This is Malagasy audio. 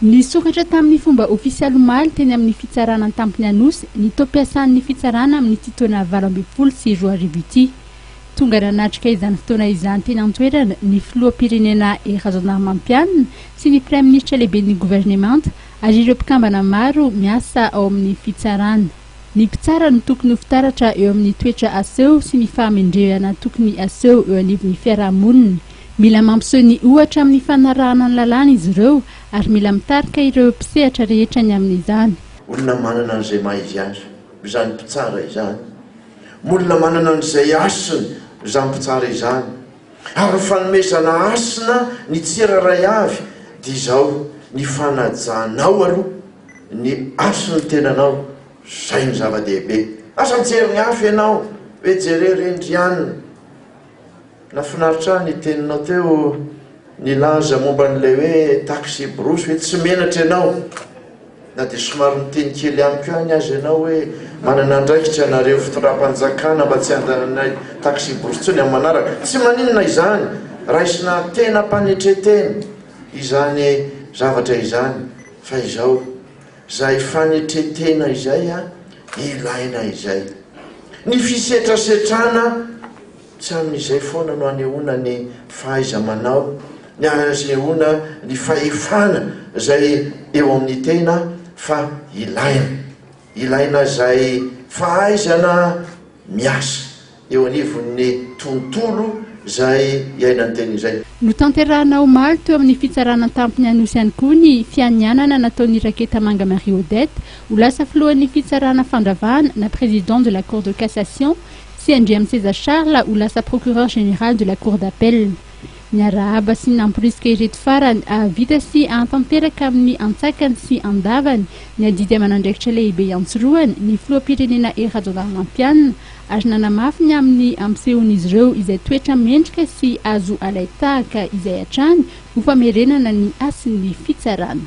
Nisokatra tamin'ny fomba ofisialy omaly teny amin'ny fitsarana an-tampony Anosy ny taom-piasan'ny fitsarana amin'ity taona valo ambin'ny folo sy roa arivo ity. Tonga nanatrika izany fotoana izany teny an-toerana ny filoham-pirenena Hery Rajaonarimampianina sy ny praiminisitra lehiben'ny governemanta ary ireo mpikambana maro miasa ao amin'ny fitsarana. Ny mpitsara no tokony ho fitaratra eo amin'ny toetra aseho sy ny fahamendrehana tokony aseho eo anivon'ny fiaraha-monina. Mila mampiseho ny ohatra amin'ny fanarahana ny lalàna izy ireo ary mila mitarika ireo mpisehatra rehetra ny amin'izany. Olona manana an'izay maha-izy azy izany mpitsara izany. Olona manana an'izay hasiny izany mpitsara izany. Ary ny fanomezana hasina ny tsy hira iray avy dia izao, ny fanajanao aloha. Ny haso ny tenanao, zay no zava-dehibe. Aza mijery ny hafa ianao hoe jereo ry Indriana. Nafinaritra ahy ny teninao teo nilaza momba an'ilay hoe taxi brousse hoe tsy menatra ianao na dia somary niteny kely ihany koa any aza ianao hoe manana andraikitra nareo fitondram-panjakana mba tsy handananay taxi brousse intsony amin'ny manaraka. Tsy maninona izany, raisina tena mpanetretena izany zavatra izany. Fa izao, izay fanetren-tena izay ilaina izay. Ny fisetrasetrana tsy amin'izay foana no anehoana ny fahaiza-manao, ny anehoana ny fahefana izay eo amin'ny tena fa ilaina. Ilaina izay fahaizana miasa. eo anivon'ny tontolo izay iainan'ny teny izay. Notanterahina omaly teo amin'ny Fitsarana an-tampony Anosy ihany koa ny fianianana nataon'i Raketamanga Marie Odette ho lasa filohan'ny fitsarana fandravahana na président de la Cour de cassation sy Andriamiseza Charles ho lasa procureur général de la Cour d'appel. Niarahaba sy namporisika ireto farany hahavita sy hahatanteraka amin'ny antsakany sy andavany ny adidy aman'andraikitra lehibe iantsorohany ny filoham-pirenena Hery Rajaonarimampianina ary nanamafy ny amin'ny ampisehoan'izy ireo izay toetra mendrika sy azo alain-tahaka izay hatrany ho famerenana ny hasin'ny fitsarana.